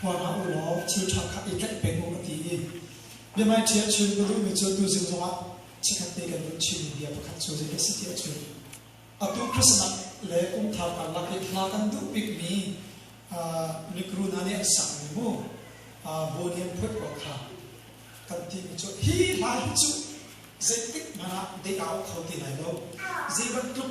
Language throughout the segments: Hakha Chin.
hua hlah u law thil ṭha kha i tlaih peng u a ti i biahmaiṭhia a chim ka duhmi cu atu zing zongah chikkhat te kan duh chinmi bia pakhat cu zei ka si ti a chim atu Christmas le kum thar karlak i hla kan duh bikmi likru hna nih an sakmi mu buan hi an phuat kual kha kan timi cu hi hla hi cu zeitik hmanh ah dei aa kho ti lai lo zei bantuk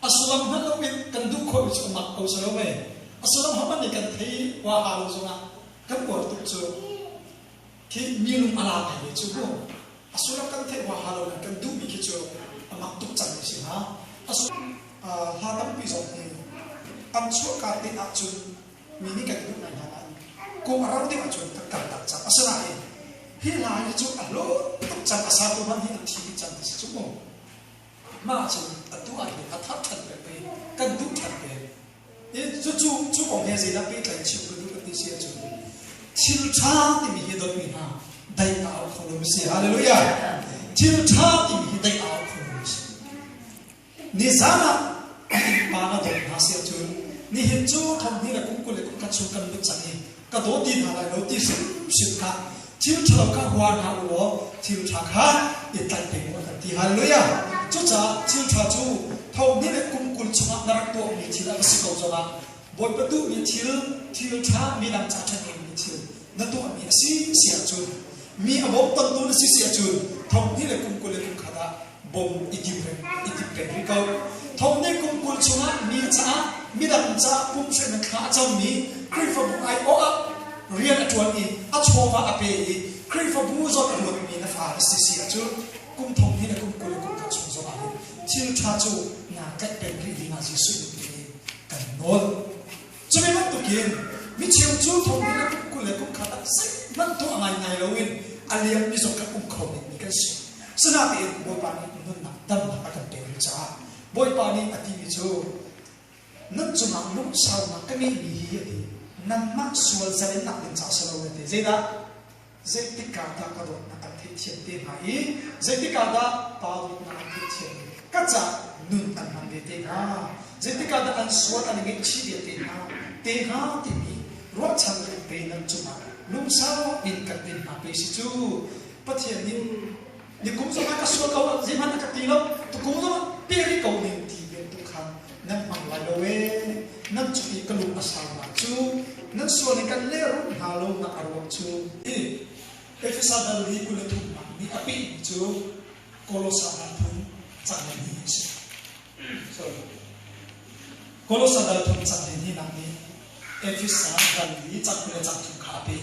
A sullam hngalh loin kan duh khawhmi cu a mak ko si lo mei? A sullam hmanh nih kan thei huaha lo zongah kan uar tuk cu. Khi minung a la ngaimi cu mu. A sullam kan theih huaha lo in kan duhmi khi cu a mak tuk cangmi si hnga. A sullam hla tampi zong hi an chuahka te ahcun mi nih kan duh ngai hna nain kung a rau ding ahcun kan kal tak cang. Asinain hi hla hi cu a hlawt tuk cang, a satu hmanh hi an thi dih cang ti si cu mu. mah cung a tuah hi a thar ṭhan pek pei kan duh ṭhan ve. I cucu cu kong he zeidah pehtlai chim ka duh ka ti si ahcun thil ṭha timi hi dotmi hna daih ka au kho lomi si. Halleluja! Thil ṭha timi hi daih a au kho lomi si. Nizan ah innpa na dawt hna si ahcun nihin cu thawng hi na kum kul le kum khat chung kan lut cang i ka daw ti hna lai lo ti hrimhrim kha thil ṭhalo kha hua hna u law thil ṭha kha i tlaih ding u kan ti halleluja cucaah thil ṭha cu thohni le kum kul chungah na rak tuahmi thil a si ko zongah bawipa duhmi thil thil ṭha midang ca ṭhen dingmi thil na tuahmi a si si ahcun mi a bawmtamtu na si si ahcun thohni le kum kul le kum khat ah bawm i dip peng rih ko. Thawmhnih kum kul chungah mi caah midang caah pumhsaihnak thla a cangmi Khrihfabu aiawh ah rian a ṭuan i a chawva a pe i Khrihfabu zong a luangmi na fa na si si ah cun kum thonghi le kum kul le kum khat chung zongah hin thil ṭha cu naa tlaih peng rih dingah Jesuh min in kan nawl. Cume bantukin micheu cu thawnginn ah kul le kum khat ah zeihmanh tuah ngaingai loin a liammi zong kan um kho dingmi kan si. Sinatein Bawipa nih nunnak damnak a kan pek rih caah Bawipa nih a timi cu nun cungah lungsaunak ka ngeihmi hi a ti. Nangmah sual zalennak ding caah si lo na ti. Zeidah? Zeitik ah dah ka dawtnak an theihthiam te hnga i zeitik ah dah pa dawtnak an theihthiam ve? Ka caah nun an hman ve te hnga. Zeitik ah dah an sual an ngeihchih ve te hnga? Te hnga timi ruahchan rengre nan cungah lungsau in kan din hna pe si cu Pathian nih Nikum zong ah ka sual ko lo, zeihmanh a ka ti lo, tukum zong ah peri ko ning ti vial tu kha nan hmang lai lo e. Nan cu i ka lung a sau hna cu, nan sual i kan lerum hna lo nak a ruang cu, i Efesa balri kul le thumnak nih a pih mi cu Kolosa dalthum cangli ni a si. Sorry. Kolosa dalthum cangli ni nak nih Efesa dal i cangli le cangthum kha a peh.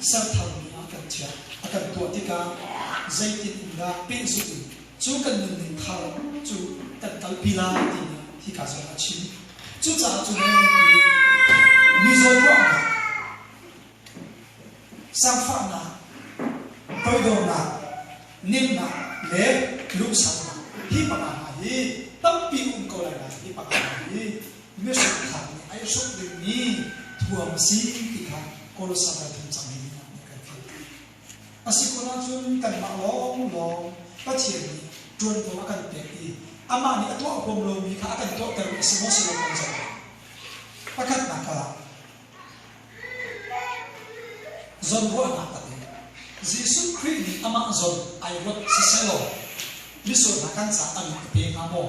sertharmi ah kan chiah a kan tuah tikah zeitin in dah pehzulh in cu kan nunning thar cu kan kalpi lai timi hi ka zong a chim cucaah cu hmelmi mizaw ruahnak sangfahnak toidornak ninnak le lungsaunak hi panga hna hi tampi um ko lai lai hi panga hna hi Biahrangnak nih ai hruk dingmi thuam a si ti kha Kolosas a thum cang hi kan theih. A si kun ahcun kanmah lawnglawng Pathian nih ṭuanvo a kan pek i amah nih a tuah huam lomi kha a kan tuahter a si maw si lo kan zoh lai. Pakhatnak ah, zon ruahnak a pek. Jesuh Khrih nih amah zon ai ruat sisehlaw misual hna kan caah a min a pe hnga maw?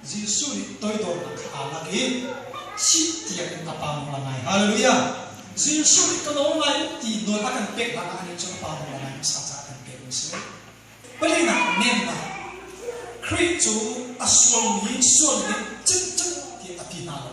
Jesuh nih toidornak kha aa lak i thih tiangin a pahnung la ngai. Halleluja! Jesuh nih ka daw lai u ti nawlbia kan pek hlanah anih cu a pahnung la ngai hmasa caah kan pek a si. Pahnihnak, nemnak. Khrih cu a sualmi sualning in cimcim ti a ti hna lo.